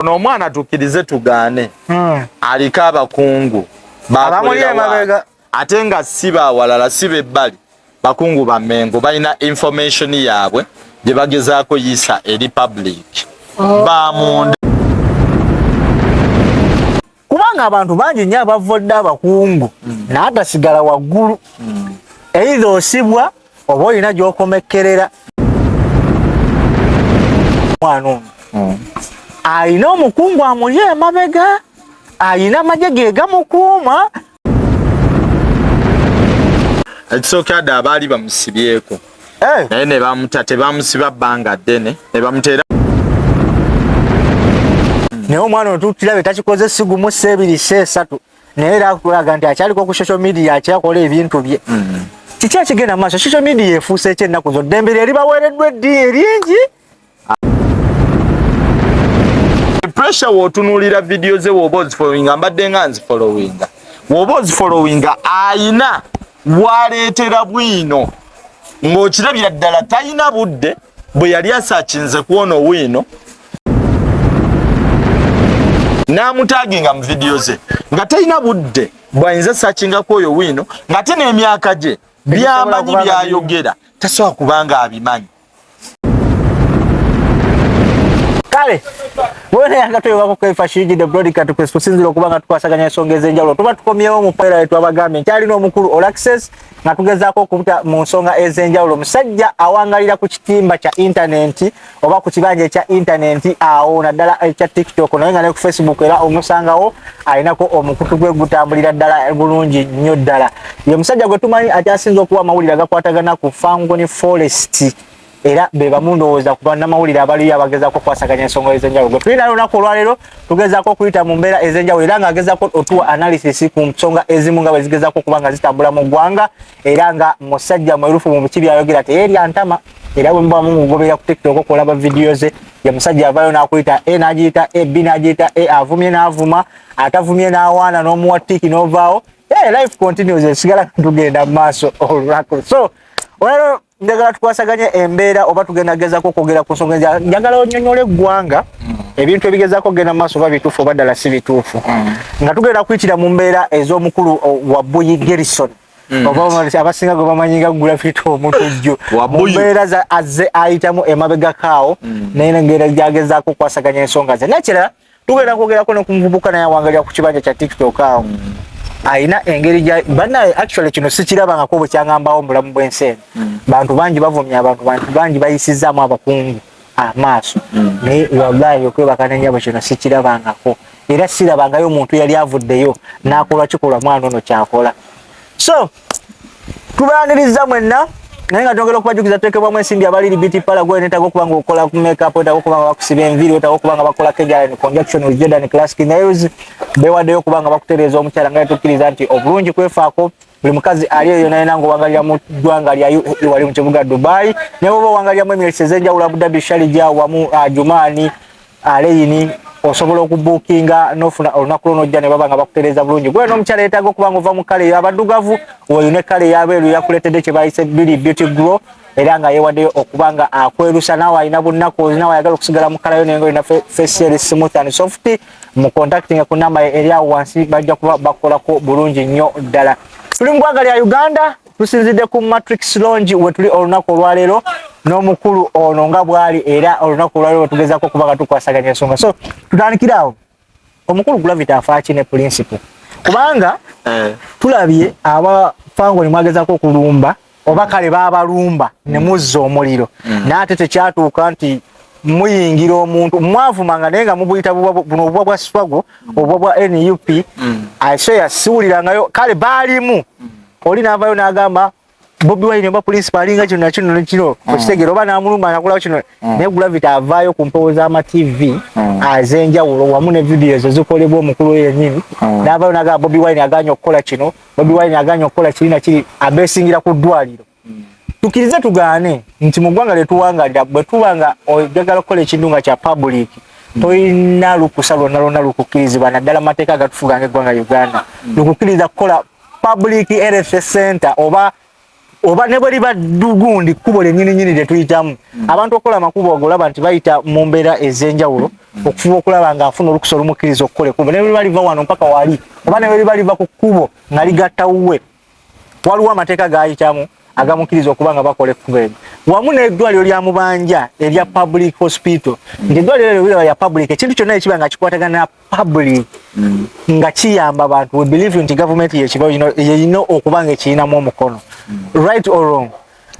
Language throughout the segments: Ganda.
ono omwana tukirize tugaane hmm. aliko abakungu bakolera ate nga si bawalala si bebbali bakungu ba mengo balina information yaabwe gye bagezaako yiisa eri public oh. bamunda kubanga abantu bangi nnyo abavvodde abakungu mm. naye gasigala waggulu mm. eitha osibwa oba olina gyokomekkerera mwana ono mm. alina omukungu amuli emabega alina amagye ge gamukuuma ekisookera dda abaali bamusibyeko eh. naye ne bamuta tebamusiba bbanga ddene ne bamuteera naye omwana ono tukirabe takikoze sigumu seebiri seesatu naye era akulaga nti akyaliko ku social media akyakola ebintu bye mm. kiki ekigenda mu maaso social media efuuse ekyennaku zo ddembe lye libaweereddwa eddiini eringi pressure wotunulira video ze woba ozifollowinga mbadde nga nzifollowinga woba ozifollowinga ayina waleetera bwino ng'okirabira ddala talina budde bwe yali asakinze kwona owiino n'amutaginga mu vidiyo ze nga talina budde bwayinza sakingako oyo wiino ng'ate n'emyaka gye byamanyi byayogera tasobola kubanga abimanyi kale wena yanga twewako kwefa shirigi the broadcast press kusinzira okuba nga tukwasaganya ensonga ez'enjawulo tuba tukomyewo mu paira yetu abagambye nti alina omukulu olaxes nga tugezaako okubuta mu nsonga ez'enjawulo omusajja awangalira ku kitimba kya intanenti oba ku kibanja ekya intanenti awo naddala ekya tiktok naye nga ne ku facebook era omusangawo alinako omukutu gwe gutambulira ddala bulungi nnyo ddala ye musajja gwe tumanyi akyasinza okuwa amawulire agakwatagana ku fangoni forest era be bamu ndowooza ku bannamawulire abaliyo abagezaako okukwasaganya ensonga ez'enjawulo gwe tulina lunaku olwaleero tugezaako okuyita mu mbeera ez'enjawulo era ng'agezaako otuwa analysis ku nsonga ezimu nga bwe zigezaako okuba nga zitambula mu ggwanga era nga musajja mwerufu mu biki byayogera teyeerya ntama era bwe muba mumugobera ku tiktok okulaba vidiyo ze ye musajja avayo nakuyita e nagiyita e b nagiyita e avumye n'avuma atavumye n'awaana n'omuwa tiki n'ovaawo Hey, eh, life continues esigala tugenda mu maaso olunaku so olwaleero njagala tukwasaganye embeera oba tugenda gezako okwogera ku nsonga eza njagala onyonyola eggwanga mm. ebintu ebigezako okugenda mu maaso oba bituufu oba ddala si bituufu mm. nga tugenda kuyitira mu mbeera ez'omukulu wa buyi gerison Mm. abasinga gwe bamanyi nga gulafita omutujju mumbeera azze ayitamu emabegakaawo mm. naye nengeri gyagezaako okukwasaganya ensonga ze nekirala tugenda kwogerako ne ku muvubuka naye awangalira ku kibanja kya tiktok awo alina engeri gya banaye actually kino sikirabangako bwe kyangambawo mubulamu bw'ensi eno mm. bantu bangi bavumya abantu bantu bangi bayisizzaamu abakungu amaaso mm. naye wallahi okwebaka nenyabo kino sikirabangako era sirabangayo omuntu yali avuddeyo n'akola kikolwa mwana ono kyakola so tubaaniriza mwenna naye nga twongera okubajukiza tuteekebwamu ensimbi abaliri bt pala gwe netaga okuba nga okola ku makeup wetaga okuba nga bakusiba enviiri wetaga okuba nga bakola kejalan conjunction with jordan classic nails bewaddeyo okuba nga bakutereeza omukyala nga netukkiriza nti obulungi kwefaako buli mukazi ali eyo nayena ngaowangalira mu ggwanga lya uae e wali mu kibuga dubai naye oba owangaliramu emyesi ezenjawulo abudabi sharija wamu ah, jumaani aleyini osobola okubukinga nofuna olunaku lwo nojja ne baba nga bakutereeza bulungi gwe n'omukyala yeetaaga okuba nga ova mu kale eyo abadugavu oyo ne kale yabeeru yakuleetedde kye bayise bili beauty grow era nga yeewaddeyo okuba nga akwerusa naawe alina bunnaku olina wayagala okusigala mu kalayo naye nga olina fesieri smooth and soft mu contactinga ku namba eri awo wansi bajja kuba bakolako bulungi nnyo ddala tuli mu ggwanga lya uganda tusinzidde ku matrix longi wetuli olunaku olwaleero n'omukulu ono nga bwali era olunaku olwaleero wetugezako okuba nga tukwasaganya ensonga so tutandikire awo omukulu gravity afaaki ne principle kubanga eh. tulabye aba fangoni mwagezako okulumba oba kale babalumba ne mm. muzza omuliro mm. naate tekyatuuka nti muyingira omuntu mwavumanga naye nga mubuyita buno obubwa bwa swago obubwa bwa nup mm. asoya siwulirangayo kale baalimu oli n'avaayo n'agamba bobi wine oba pulinsipa alinga kino nakino nekino mm. okitegere oba n'amulumba anakulawo kino mm. naye gravity avaayo ku mpewo z'amatv mm. az'enjawulo wamu ne vidiyo ezo zikolebwa omukulu oyo yennyini n'avaayo n'agamba bobi wine aganye okukola kino bobi wine aganye okukola kiri nakiri abeesingira ku ddwaliro tukirize tugaane nti mu ggwanga lyetuwangalira bwe tuba nga ojagala okukola ekintu nga kya public toyina lukusa lwonna lwonna lukukkirizibwa naddala mu mateeka agatufuga nga eggwanga uganda mm. lukukkiriza kukola public health center oba oba ne bweriba dugundi kubo lenyini nyini lye tuyitamu mm. abantu okola makubo ogolaba nti bayita mu mbeera ez'enjawulo mm. okufuba okulaba nga afuna olukusa olumukkiriza okukola ekubo ne bweriba liva wano mpaka wali oba ne bweriba liva ku kkubo nga ligatta wuwe waliwo amateeka gayitamu agamukkiriza okuba nga bakola ekkubo eryo wamu n'eddwaliro lya mubanja erya public hospital ng'eddwaliro eryo liraba lya public ekintu kyonna ekiba nga kikwatagana public mm. nga kiyamba abantu we believe nti government yekibawo kino yeyina okuba nga ekiyinamu omukono mm. right or wrong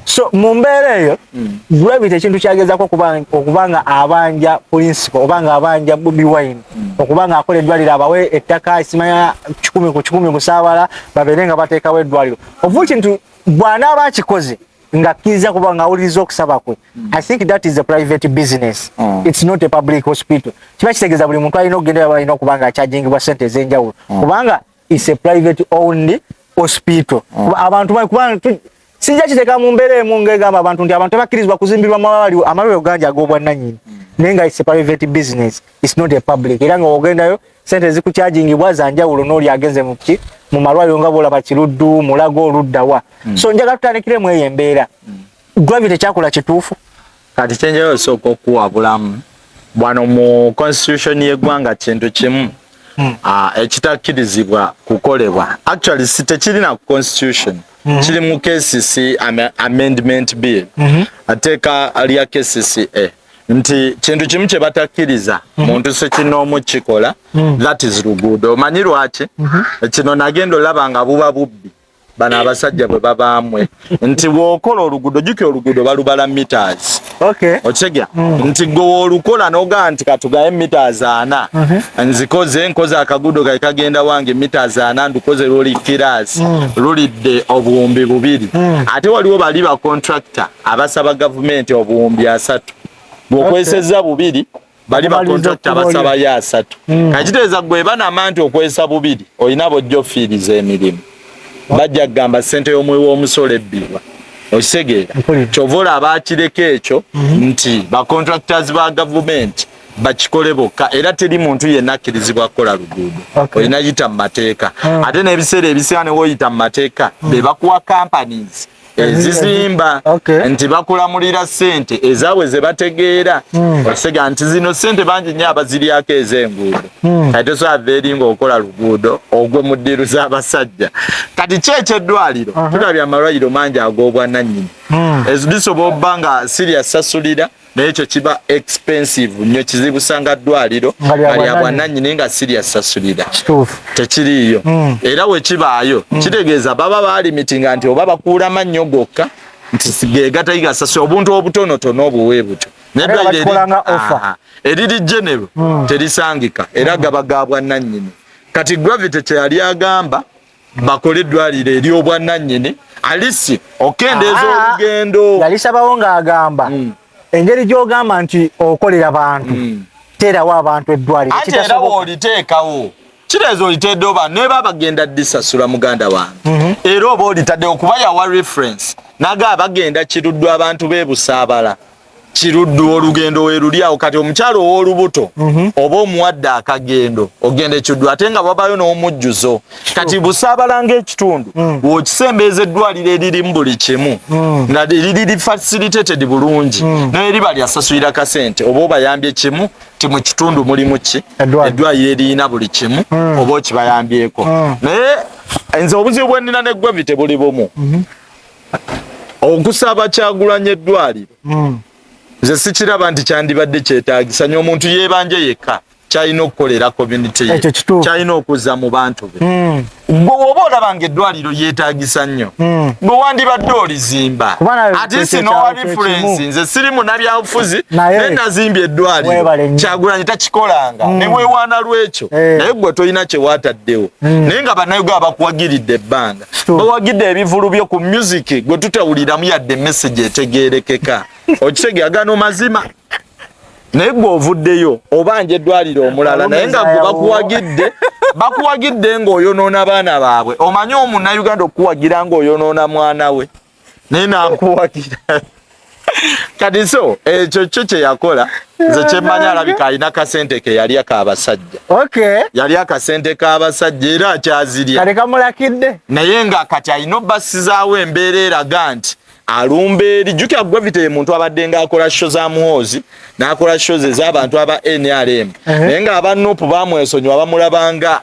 so mu mbeera eyo mm. gravity ekintu kyagezako okuba nga abanja principal oba nga abanja bobi wine mm. okuba nga akola eddwaliro abawe ettaka esimanya kikumi ku kikumi musaabala babeere nga bateekawo eddwaliro ovu kintu bw'anaaba akikoze nga akkiriza kuba nga awuliriza okusaba kwe mm. i think that is a private business mm. it's not a public hospital kiba kitegeeza buli muntu alina okugenda aba alina okuba nga akyajingibwa sente ez'enjawulo mm. kubanga it's a private owned hospital mm. abantu kubanga sijja kiteeka mu mbeera emu ngegamba abantu nti abantu tebakkirizibwa kuzimbirwa mawali amalwaliro gangi ag'obwannanyini mm. naye nga it's a private business it's not a public era nga ogendayo sente ezikukyajingibwa zanjawulo n'oli agenze muki mu malwaliro nga bwolaba kiruddu mulago oluddawa mm. so njagala tutandikire mu eyo embeera mm. gravity kyakola kituufu kati kyenjayo osooka okuwa bulamu bwano mu constitution y'eggwanga kintu kimu hmm. ah, ekitakkirizibwa kukolebwa actually si tekirina ku constitution hmm. kiri mu kcc amendment bill hmm. ateeka lya kcca nti kintu kimu kye batakkiriza mhm. muntu sekinoomu kikola mhm. that is luguudo omanyi lwaki mhm. kino nagenda olaba nga buba bubbi bano abasajja bwe babaamwe nti bwokola oluguudo juki oluguudo balubala meters okitegeera mm. nti gwe woolukola nogaa nti katugaye meters ana nzikoze nkoze akaguudo kae kagenda wange meters ana ndukoze luli kiraasi mm. lulidde obuwumbi bubiri mm. ate waliwo bali bacontractor abasaba gavumenti obuwumbi asatu bwokwesezza bubiri bali bakontakiti abasabayo asatu hmm. kakiteeza gwe banama nti okwesa bubiri olina bojja ofiiriza emirimu bajja kugamba sente y'omuwi w'omusolo ebbibwa okitegeera kyova olaba akireka ekyo mhm. nti bacontractors ba gavumenti bakikole bokka era teri muntu yenna akkirizibwa kukola luguudo olina yita mu mateeka hmm. ate n'ebiseera ebisinga ne woyita mu mateeka hmm. be bakuwa companies ezizimba okay. nti bakulamulira sente ezaabwe ze bategeera mm. osega nti zino sente bangi nnyo abaziryako ez'enguudo mm. kati tosobola eri ng'okola luguudo ogwe mu ddiiru z'abasajja kati ki ekyeddwaliro uh -huh. tulabye amalwaliro mangi ag'obwanannyini mm. ezidisobola obba nga sirya sasulira mm. naye ekyo kiba expensive nyo kizibu sanga ddwaliro nga lya bwananyini nga sirya sasulira tekiriiyo mm. era wekibaayo mm. kitegeeza baba balimitinga nti oba bakuula mannyo gokka nti gegatayigasasula obuntu obutonotono obuwe butyo eriri genero hmm. terisangika era hmm. gaba ga bwananyini kati gravity kyeyali agamba bakole eddwaliro ery'obwannannyini alisi okendeeza ah, olugendo yalisabawo ng'agamba hmm. engeri gy'ogamba nti okolera bantu hmm. teerawo abantu eddwaliro ate era wooliteekawo kireeza olitedde oba neba bagenda disasula muganda wange mhm. era oba olitadde okuba yawa reference naga abagenda kiruddwa abantu bebusaabala kiruddu olugendo weruli awo kati omukyalo owolubuto mhm. oba omuwadde akagendo ogenda ekiddu ate nga babayo n'omujjuzo kati busaabala ngaekitundu mm. wokisembeeza eddwaliro eririmu buli kimu mm. nga liriri facilitated bulungi mm. naye riba lyasasulira kasente oba obayambye kimu ti mu kitundu mulimu ki eddwaliro eririna buli kimu oba okibayambyeko naye nze obuzibu bwenina neggwe bite buli bumu mhm. okusaba kyagulanya eddwaliro hmm. nze sikiraba nti kyandibadde kyetagisa nyo omuntu yebanje yekka kyalina okukolera community ye kyalina okuza mu bantu be hmm. gwe woba olaba nga eddwaliro yetagisa nnyo hmm. gwe wandibadde olizimba atisi nowa referensi nze siri munabyabufuzi naye nazimbye eddwaliro kyagulanyi takikolanga hmm. newewaana lwekyo eh. naye gwe tolina kyewataddewo naye nga banayoga abakuwagiridde ebbanga bawagidde ebivulu byo ku music gwe tutawuliramu yadde message etegerekeka okitegeera gano mazima naye gwe ovuddeyo obanja eddwaliro omulala naye nga gwe bakuwagidde bakuwagidde ng'oyonoona abaana baabwe omanyi omunauganda okukuwagira ng'oyonoona mwana we naye nakuwagira kati so ekyo kyo kye yakola nze kyemmanyi alabika alina kasente ke yali akabasajja okay. yali akasente k'abasajja era akyazirya kale kamulakidde naye nga kati alina obbasizaawo embeera eraga nti alumba eri jukira gravity ye muntu abadde nga akola sho za muhoozi n'akola sho ze z'abantu aba nrm naye nga aba nup bamwesonyiwa bamulabanga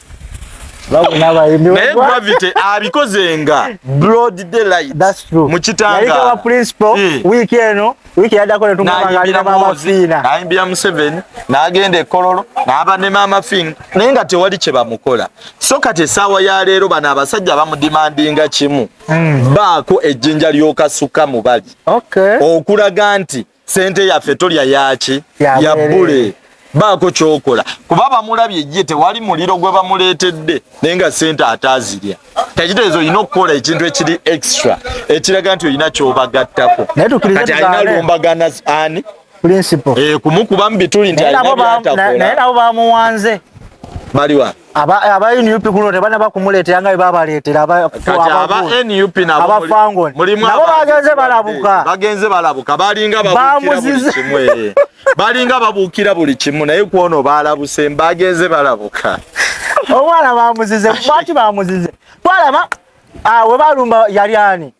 naye gravity abikoze nga broad daylight mu kitanga eh. wiiki eno wiiki yaddako netuaaliira maama fiina nayimbira museveni n'agenda ekololo n'aba ne maama fiina naye nga tewali kye bamukola so kati essaawa ya leero bano abasajja bamudimandinga kimu hmm. baako ejjinja ly'okasukka mu bali okulaga nti sente yaffe tolya yaki ya bule baako kyokola kuba bamulabye ye tewali muliro gwe bamuleetedde naye nga sente ataazirya tekitegeeza olina okukola ekintu ekiri extra ekiraga nti olina kyobagattako kati alina lumbagana ani eh, kumukubamu bituli nti alina byatakola naye nabo bamuwanze baliwa aba aba NUP kuno tebana bakumuleetera nga babaleetera aba kati aba NUP nabo aba fango mulimu nabo bagenze balabuka bagenze balabuka balinga babukira buli kimwe balinga babukira buli kimu naye kuono balabuse mbagenze balabuka omwana bamuzize mwaki bamuzize twalaba awe ah, balumba yali ani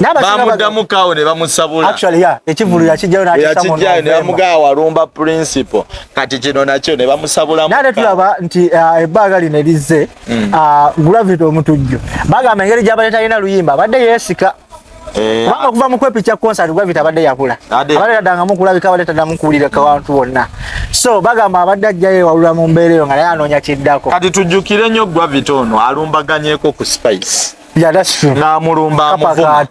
bamuddamu kawo ne bamusabula ekivulu yakijjayo nakijjayo ne bamugaa walumba principal kati kino nakyo ne bamusabulamu naye tulaba nti uh, ebbaaga lino erizze mm. uh, gravity omutujju bagamba engeri gyabadde talina luyimba abadde yeesika eh, kubanga ah. okuva mu kwepicha concert gravity abadde yakula abadde tadangamu kulabika abadde tadamu kuwulira kawantu wonna so bagamba abadde ajjayo ewalula mu mbeera eyo nga naye anoonya kiddako kati tujjukire nnyo gravity ono alumbaganyeko ku spice Yeah, that's true. Namulumba amuvuma.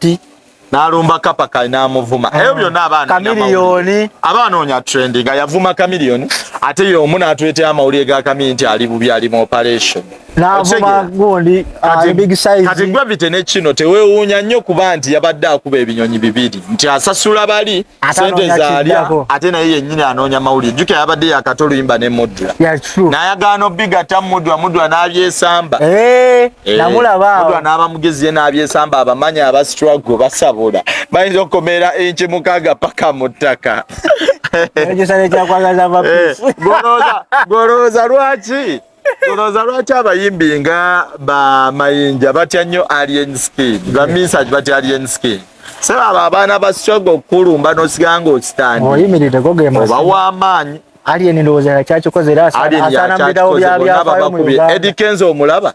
Nalumba kapa kai namuvuma. Ah. Ebyo byonna abaana kamiliyoni. Abaana onya trending yavuma kamiliyoni ate yo omuna atwete amawulire ga kamiliyoni nti ali bubi ali mu operation. Navuma gundi ah, big size. Kati gravity ne kino tewewuunya nnyo kuba nti yabadde akuba ebinyonyi bibiri nti asasula bali sente zaalya ate naye yennyini anoonya mawulire jukira yabadde yakata oluyimba ne mudra nayagaana obigatta mudra mudra n'abyesamba eh, eh, mudra n'aba mugezi ye n'abyesamba abamanyi abastrago basabola bayinza okukomera enki mukaaga paka mu ttaka eh, golowooza lwaki Olowooza lwaki abayimbi nga ba Mayinja batya nnyo Alien Skin, ba Minsaj batya Alien Skin? Sebo abo abaana ba struggle okukulumba n'osigaa ng'ositandi oba w'amaanyi Alien ndowooza yakyakikoze era asaana mu bidawo bya byafaayo mu Uganda. Eddie Kenzo omulaba?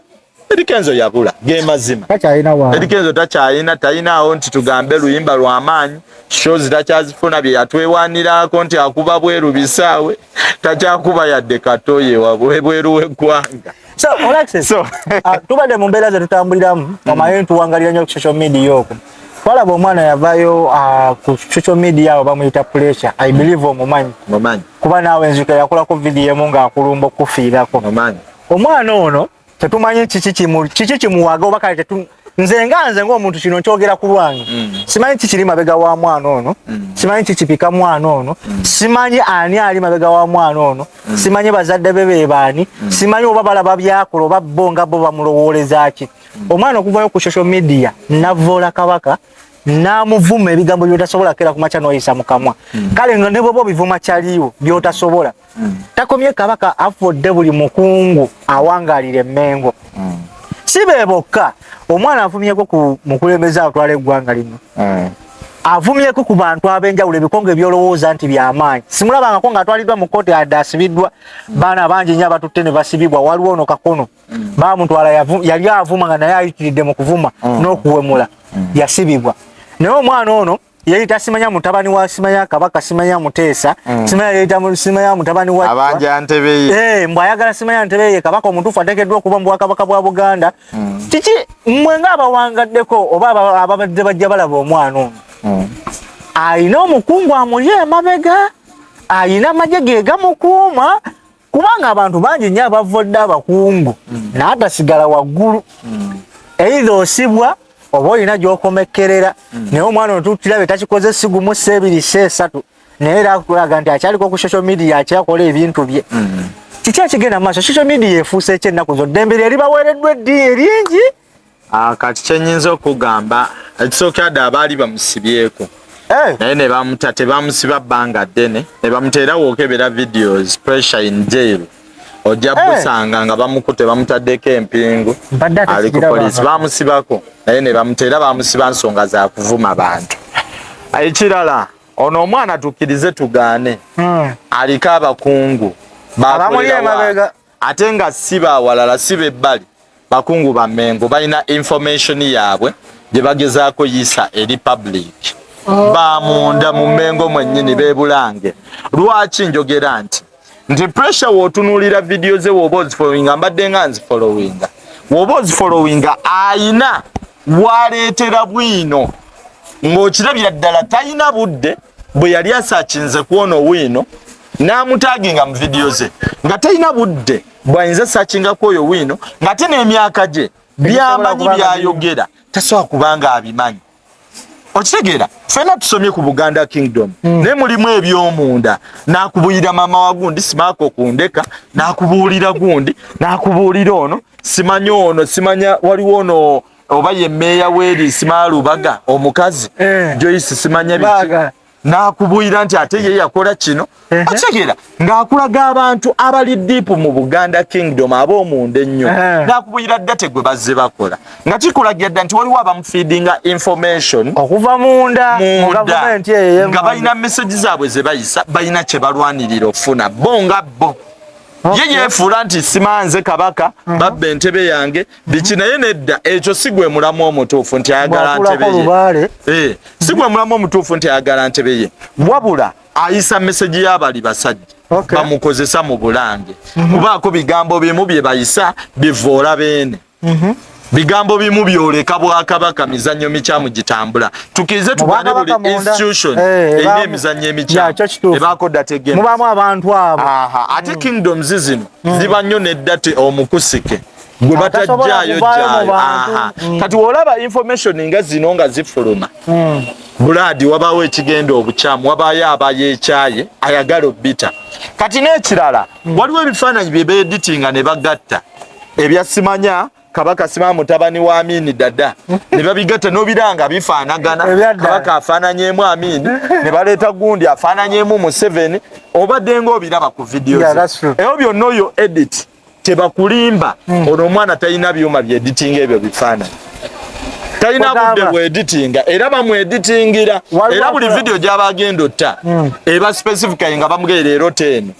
Eddy Kenzo yabula ge mazima. Takyalina wa. Eddy Kenzo takyalina talina awo nti tugambe luyimba lwa maanyi shows takyazifuna bye yatwewanirako nti akuba bweru bisaawe takyakuba yadde katoye wabweru w'eggwanga. So, Alexis, so. uh, tubadde mu mbeera ze tutambuliramu mm. omanyi ntuwangalira nnyo ku social media okwo twalaba omwana yavayo uh, ku social media awo bamuyita pressure i believe omumanyi kuba naawe nzika yakulako vidiyo emu ng'akulumba okufiirako omwana ono tetumanyi kiki kimu kiki kimuwaga oba kale tetu nze nga nze ng'omuntu kino nkyogera ku lwange mm. simanyi kiki kiri mabega wa mwana ono mm. simanyi kiki kipika mwana ono mm. simanyi ani ali mabega wa mwana ono mm. simanyi bazadde be bebaani mm. simanyi oba balaba byakola oba bo nga bo bamulowooleza ki mm. omwana okuvayo ku social media navoola kabaka namuvuma ebigambo byotasobola kera kumakya noyisa mukamwa mm. kale nga ne bwoba obivuma kyaliwo byotasobola mm. takomye kabaka afudde buli mukungu awangalira emengo mm. si be bokka omwana avumyeko ku mukulembeze atwala eggwanga lino mm. avumyeko ku bantu ab'enjawulo ebikongo ebyolowooza nti byamaanyi simulabangako ngaatwaliddwa mu kkooti adde asibiddwa mm. baana bangi nnyo abatutte ne basibibwa waliwo ono kakono mm. bamutwala yali avuma nga naye ayitiridde mu kuvuma mm. n'okuwemula mm. yasibibwa naye omwana ono yeyita simanya mutabani wa simanya kabaka simanya muteesa mm. simanya yeyita simanya mutabani wa abanja ntebeye eh mbu ayagala simanya ntebeye kabaka omutufu atekeddwa okuba mu bwakabaka bwa buganda mm. kiki mmwe ng'abawangaddeko oba ababadde bajja balaba omwana ono mm. alina omukungu amuli emabega alina amagye ge gamukuuma kubanga abantu bangi nnyo abavvodde abakungu mm. naatasigala waggulu mm. eitha osibwa oba olina gyokomekkerera mm. naye omwana otuttirabe takikoze sigumu seebiri se esatu naye era akulaga nti akyaliko ku social media akyakola ebintu bye kiki akigenda mu maaso social media efuuse ekyennaku zo ddembe lye libaweereddwa eddi eringi Ah, kati kyenyinza okugamba ekisookera dda abaali bamusibyeko eh. naye ne bamuta tebamusiba bbanga ddene ne bamuteera wookebera videos pressure in jail ojja eh. busanga nga bamukute bamutaddeko empingu ali ku poliisi bamusibako naye ne bamuteera bamusiba nsonga za kuvuma bantu ekirala ono omwana tukkirize tugaane hmm. aliko abakungu bakolerawa ate nga si bawalala si bebbali bakungu ba mengo balina information yaabwe gye bagezaako yiisa eri public oh. bamunda mu mengo mwennyini bebulange lwaki njogera nti nti pressure wotunuulira vidiyo ze woba ozifolowinga mbadde nga nzifolowinga woba ozifolowinga ayina waleetera bwino ng'okirabira ddala talina budde bwe yali asakinze kwona owino n'amutaaginga mu vidiyo ze nga talina budde bwayinza sakingako oyo wino ng'ate n'emyaka gye byamanyi byayogera tasobola kubanga abimanyi okitegeera fena tusomye ku buganda kingdom mm. naye mulimu ebyomunda nakubulira mama wa gundi simaako kundeka nakubuulira gundi nakubuulira ono simanya ono simanya waliwo ono oba ye meeya weri simalubaga omukazi eh. joyce simanya biki n'akubuyira nti ate ye yakola kino okitegera ng'akulaga abantu abali diipu mu buganda kingdom ab'omunda ennyo n'akubuyira date gwe bazze bakola nga kikulagira dda nti waliwo abamufiidinga information okuva munda nga balina meseji zaabwe ze bayisa balina kye balwanirira okufuna bo nga bo ye yeefuula nti simanze kabaka hmm. babba entebe yange biki naye nedda ekyo si gwe mulamu omutuufu nti ayagala ntebeye eh, si gwe mulamu omutuufu nti ayagala ntebeye wabula ayisa meseji y'abali basajja okay. bamukozesa mu bulange mm -hmm. kubaako bigambo bimu bye bayisa bivoola beene mm -hmm. bigambo bimu byoleka bwakabaka mizannyo mikyamu gitambula tukirize tubane buli institution eh, erina emizannyo emikyamu ebaako dda tegemubamu abantu abo ate mm. kingdoms zino mm. ziba nnyo neddate omukusike gwe batajjaayo jjaayo mm. kati olaba information nga zino nga zifuluma mm. bulaadi wabaawo ekigenda obukyamu wabaayo abayo ekyaye ayagala obbita kati n'ekirala mm. waliwo ebifaananyi bye beeditinga ne bagatta ebya simanya kabaka sima mutabani wa amini dada ne babigatta n'obiranga bifaanagana kabaka afaananyemu amini ne baleeta gundi afaananyemu museveni obadde ng'obiraba ku vidiyo ebyo byonna oyo edit tebakulimba hmm. ono omwana talina byuma bye editing ebyo bifaananyi talina budde bwe editinga era bamu editingira era buli video gyaba agenda otta hmm. eba specifically nga bamugee leero teeno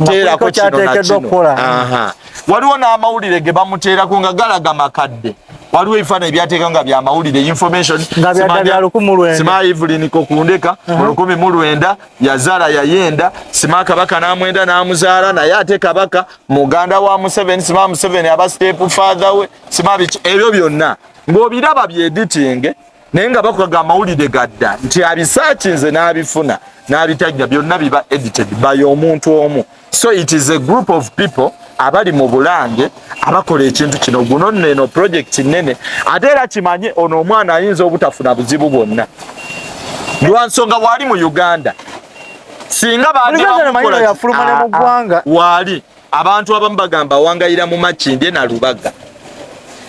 teerako kino nakino waliwo n'amawulire ge bamuteerako nga galaga makadde waliwo ebifaananyi byateeka nga byamawulire information sima evelyn kokundeka hmm. olukumi mu lwenda yazaala yayenda sima kabaka namwenda namuzaala naye ate kabaka muganda wa museveni sima museveni aba step father we sima biki ebyo byonna ng'obiraba byeditinge naye nga bakukaga amawulire gadda nti abisakinze n'abifuna n'abitajja byonna biba edited by omuntu omu so it is a group of people abali mu bulange abakola ekintu kino guno neno project nene ate era kimanye ono omwana ayinza obutafuna buzibu bwonna lwansonga waali mu uganda singa baaliwaali ah, ah, abantu abamu bagamba wangayira mu makindye na lubaga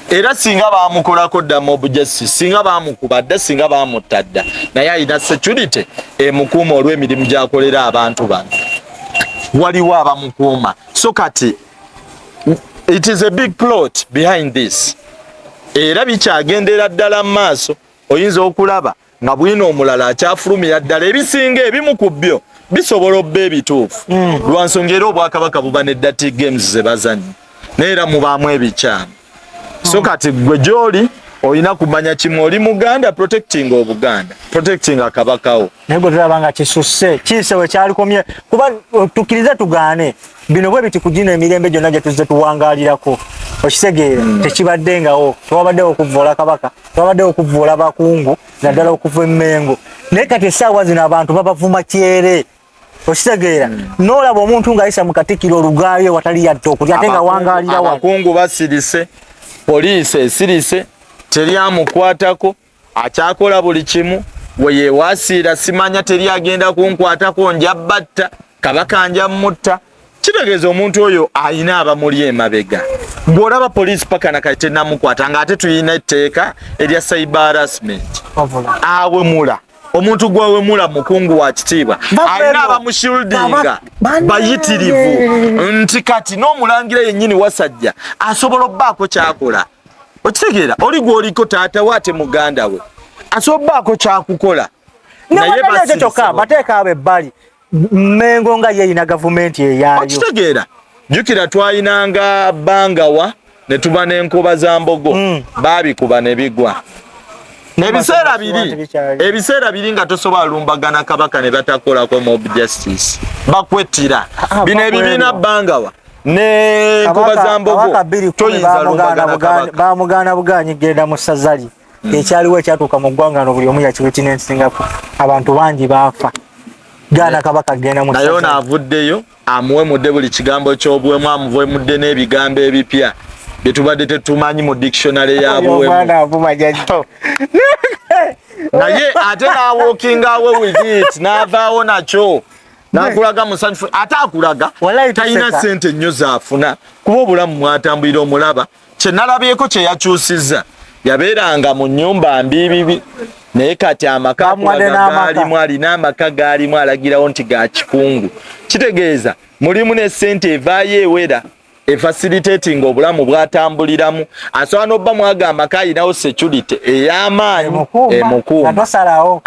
era singa bamukolako dda mob justice singa bamukuba dda singa bamutta dda naye alina security emukuuma olw'emirimu gyakolera abantu bano waliwo abamukuuma so kati it is a big plot behind this era bikyagendera ddala mu maaso oyinza okulaba nga bwino omulala akyafulumira ddala ebisinga ebimu ku byo bisobola obba ebituufu hmm. lwa nsonga era obwakabaka buba ne dati games ze bazannya naye era mubaamu ebikyamu hmm. so kati gwe gyoli olina kumanya kimu oli muganda protecting obuganda protecting akabakawo naye gwe tulaba nga kisusse kiise we kyalikomye kuba uh, tukkirize tugaane bino bwe biti kugina emirembe gyonna gye tuzze tuwangalirako okitegeera hmm. tekibaddengawo tewabaddewo okuvvoola kabaka babadde okuvuula abakungu naddala okuva emmengo naye kati essaawa zino abantu babavuma kyere okitegeera hmm. noolaba omuntu ng'ayisa mu katikiro olugaayo watali yadde okulya ate nga wangaalira abakungu basirise poliisi esirise teri amukwatako akyakola buli kimu weyewasiira simanya teri agenda kunkwatako nja batta kabaka nja mutta kitegeeza omuntu oyo alina abamuli emabega ng'olaba poliisi paka nakati tenamukwata ng'ate tulina etteeka erya cyber harassment awemula omuntu gwawemula mukungu wa kitiibwa alina abamushildinga bayitirivu nti kati n'omulangira yennyini wasajja asobola obbaako kyakola okitegeera oli gwoliko taata we ate muganda we asobola obbaako kyakukola naye bateeka abo ebbali Mengo nga yeyina gavumenti eyayo. Okitegeera jukira twayinanga bangawa ne tuba n'enkuba za mbogo mm. baabikuba ne bigwa ebiseera biri ebiseera biri nga tosobola lumbagana kabaka ne batakolako mob justice bakwettira ah, ah, bino ebibiina bangawa ne nkuba za mbogo toyinza lumbagana kabaka bamugana buganyi genda mu sazali hmm. ekyaliwo ekyatuuka mu ggwanga no buli omu yakiwitinensingako abantu bangi baafa gaana eh. kabaka kugenda mu naye ono avuddeyo amuwemudde buli kigambo ky'obuwemu amuwemudde n'ebigambo ebipya bye tubadde tetumanyi mu dictionary ya buwemu naye ate n'awookinga we with it n'avaawo nakyo nakulaga musanyufu ate akulaga talina sente nnyo zaafuna kuba obulamu mwatambulira omulaba kye nalabyeko kye yakyusizza yabeeranga mu nnyumba mbiibibi naye kati amaka galimu alina amaka galimu alagirawo nti ga kikungu kitegeeza mulimu ne ssente evaayo ewera efasilitatinga obulamu bwatambuliramu asobola nobba mwaga amaka alinawo security eyamaanyi emukuumaosalawo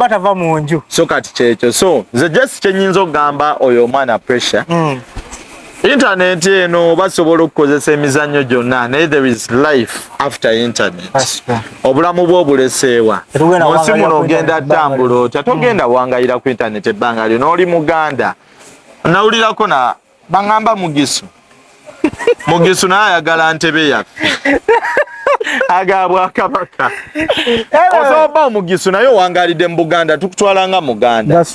tava mu nju so kati kyekyo so nze jesi kyenyinza okugamba oyo omwana pressure mm. internet eno basobola okukozesa emizannyo gyonna naye there is life after internet obulamu bwo obuleseewa munsi muno ogenda tambula otya togenda hmm. wangayira ku internet ebbanga lyo nooli muganda nawulirako na baŋamba mugisu mugisu naye ayagala ntebe yaffe agabwakabaka osoba omugisu naye owangalidde mu buganda tukutwala nga muganda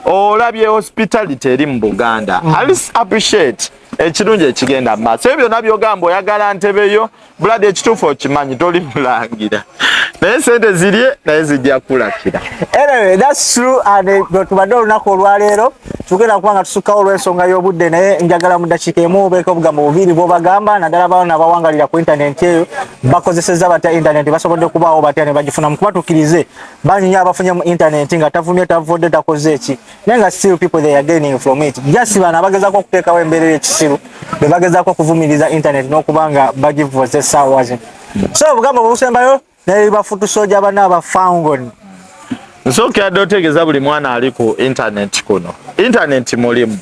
olabye hospitality eri mu buganda mm. alis appreciate ekirungi ekigenda mumaaso ebyo byona byogamba oyagala ntebeyo buladi ekituufu okimanyi toli mulangira naye sente zirye naye zijja kulakira tubadde olunaku olwaleero tugenda kuba nga tusukkawo olw'ensonga y'obudde naye njagala mu ddakiika emu obeeko obugambo bubiri bw'obagamba naddala baana abawangalira ku intanenti eyo bakozeseza batya intanenti basobodde kubaawo batya ne bagifunamu kuba tukkirize bangi nyo abafunye mu intanenti nga tavumye tavudde takoze eki naye nga still people they are gaining from it just bano abagezaako okuteekawo embeera ey'ekisiru be bagezaako okuvumiriza intanenti n'okuba nga bagivuze saawa zino so obugambo bubusembayo naye bafutu soja bana ba fangon nsoke adotegeza buli mwana ali ku internet kuno internet mulimu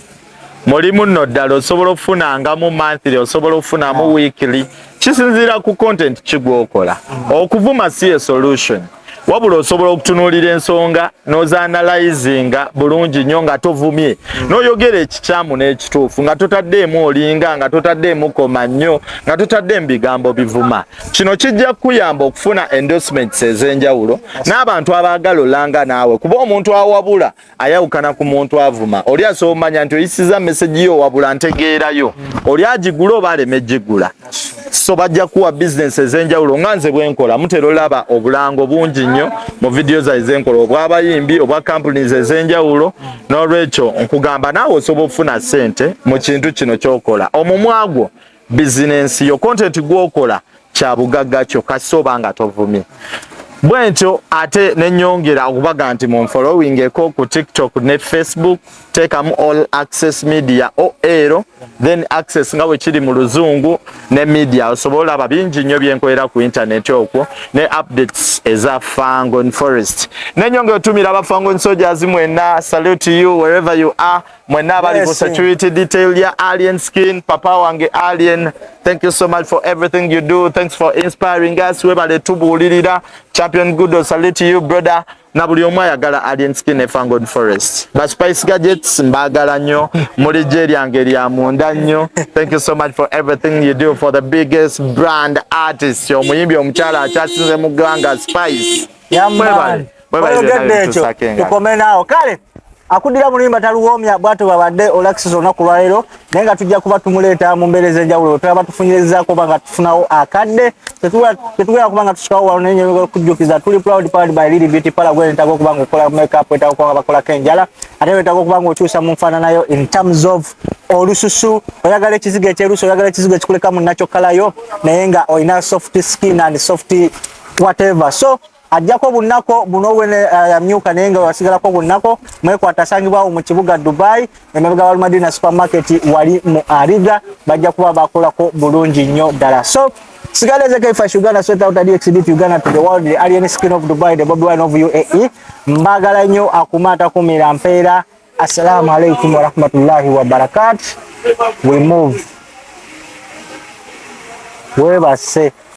mulimu no dalo osobola ofuna nga mu monthly osobola ofuna mu ah. weekly kisinzira ku content kigwokola mm. okuvuma si a solution wabula osobola okutunuulira ensonga nozaanalayizinga bulungi nnyo nga tovumye hmm. noyogera ekikyamu n'ekituufu nga totaddeemu olinga nga totaddeemu koma nnyo nga totaddeemu bigambo bivuma Kino kijja kuyamba okufuna endorsements ez'enjawulo n'abantu abaagala olanga naawe kuba omuntu awabula ayawukana ku muntu avuma oli asobola omanya nti oyisiza message yo wabula ntegeerayo oli agigula oba aleme gigula so bajja kuwa business ez'enjawulo nga nze bwenkola mutera olaba obulango bungi nnyo mu vidiyo zae zenkola obw'abayimbi obwa companies ez'enjawulo n'olwekyo nkugamba naawe osobola okufuna ssente mu kintu kino kyokola omumwa gwo bizinensi yo kontenti gwokola kya bugagga kyo kasita oba nga tovumye bwentyo ate nenyongera okubaga nti munfolowingeko ku tiktok ne facebook teekamu all access media oero then access nga bwekiri mu luzungu ne media osobola olaba bingi nnyo byenkolera ku intaneti okwo ne updates eza fangon forest nenyongera otumira abafangon soldiers mwena salute you wherever you are Mwena abali ku security detail ya Alien Skin, papa wange Alien, thank you so much for everything you do. Thanks for inspiring us. Webale tubuulirira. Champion Gudo, salute you brother. Na buli omu ayagala Alien Skin Efangon Forest. Ba Spice Gadgets mbagala nnyo, muli gye lyange lya munda nnyo. Thank you so much for everything you do for the biggest brand artist. Omuyimbi omukyala akyasinze mu ggwanga Spice. Yeah, man. oyogedde ekyo tukome naawo kale akuddira mulimba taluwoomya bwato babadde olakisisa olunaku lwaleero naye nga tujja kuba tumuleeta mu mbeera ez'enjawulo wetulaba tufunyirizako oba nga tufunawo akadde tetugera kuba nga tusikawo wano naye nyo okujjukiza tuli proud powered by lili beauty pala gwe netaga okuba nga okola makeup wetaga okuba nga bakolako enjala ate wetaga okuba nga okyusa mu nfaananayo in terms of olususu oyagala ekizigo ekyerusu oyagala ekizigo ekikuleka mu nakyo kalayo naye nga olina soft skin and soft whatever so ajjako bunnako buno wene eh, yamyuka naye nga wasigalako bunnako mwekwata asangibwawo mu kibuga dubai emabega wa madina supermarket wali mu ariga bajja kuba bakolako bulungi nnyo ddala so sigala ezeko ifash uganda sweat out dxdp uganda to the world the alien skin of dubai the bobi wine of uae mbagala nnyo akuma atakumira mpeera assalamu alaikum warahmatullahi wabarakat we move webase